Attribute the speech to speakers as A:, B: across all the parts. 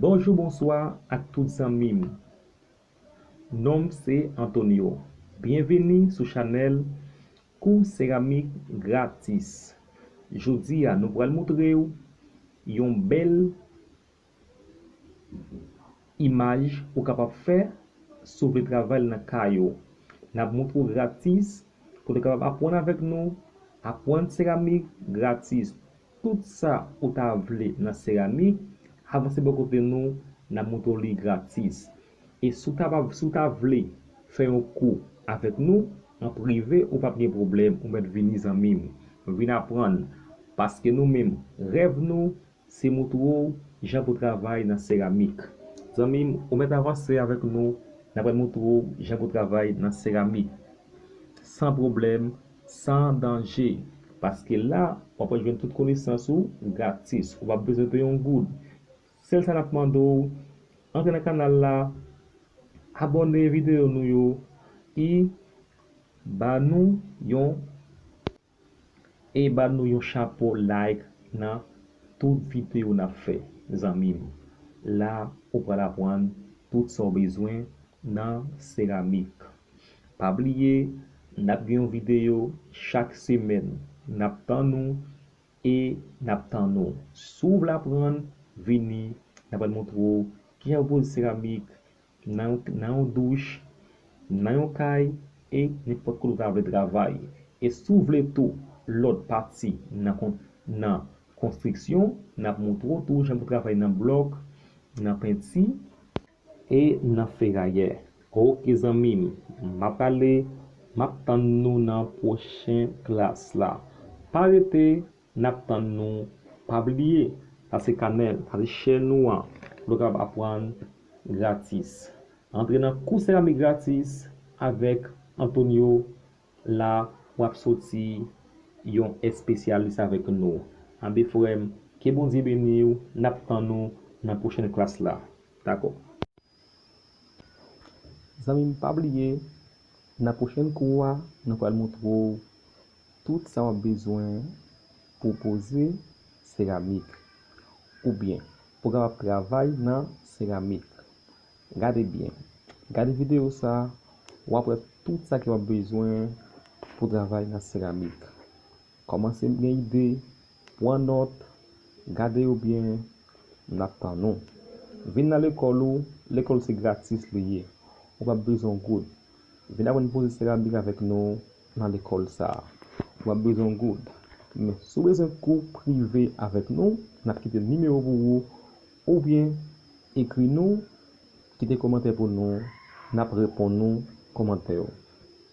A: Bonjou bonswa ak tout zanmim nonm se Antonio byenvini sou chanèl kou seramik gratis jodia nou pral moutrew yon bèl imaj ou kapab fè sou vle travay nan kay ou nap moutre ou gratis pou nou kapab apwann avèk nou apwann seramik gratis. Tout sa ou ta vle nan serami, avanse bò kote nou n ap montre w li gratis. E si w ta si w ta vle fè yon kou avèk nou an prive ou pap gen pwoblèm ou mèt vini zanmi m. Vin aprann paske nou menm rèv nou se montre w jan pou travay nan seramik. Zanmi m ou mèt avanse avèk nou n apral montre w jan pou travay nan seramik san pwoblèm San danje. Paske la, w apral jwenn tout konesans ou gratis. Ou p ap bezwen peye yon goud. Sèl sa n ap mande w, antre nan kanal la, abòne videyo nou yo, e ba nou yon e ba nou yon chapo like nan tout videyo n ap fè zanmi m. La ou pral aprann tout sa w bezwen nan seramik. Pa bliye nap gen yon video chak semèn nap tann ou e nap tann ou si w vle aprann vini nap pral montre w kijan pou poze seramik nan yon douch nan yon kay e nenpòt kote ou ta vle travay e si w vle tou lòt pati nan konstriksyon nap montre w tou jan pou travay nan blòk nan penti E nan ferayè. Ok zanmim map ale map tann nou nan pwochen klas la pa rete nap tann nou pa bliye pase kanèl pase chè nou an pou nou kapab aprann gratis antre nan kou seramik gratis avèk Antonio La wap soti Yon espesyalis avèk nou anbe frèm ke bondye beniw nap tann ou nan pwochèn klas la dakò. Zanmim pa bliye nan pwochèn kou a nou pral moutre w tout sa wap bezwen pou poze seramik oubyen pou kapab travay nan seramik. Gade byen. Gade videyo sa a, w ap wè tout sa ke w ap bezwen pou travay nan seramik. Kòmanse gen ide, pran nòt, gade yo byen, n ap tann ou. Vin nan lekòl ou, lekòl ou se gratis li ye, ou p ap bezwen yon goud. Vin aprann poze seramik avèk nou nan lekòl sa a, ou p ap bezwen yon goud. Men, si w bezwen kou prive avèk nou, n ap kite nimewo pou ou. Ou byen ekri nou kite komantè pou nou nap reponn ou komantè ou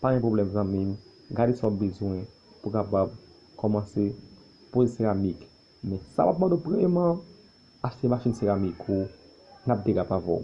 A: pa gen pwoblèm zanmim gade sa ou bezwen pou kapab komanse poze seramik men sa map mande w premyeman achte machin seramik ou nap derape avèw.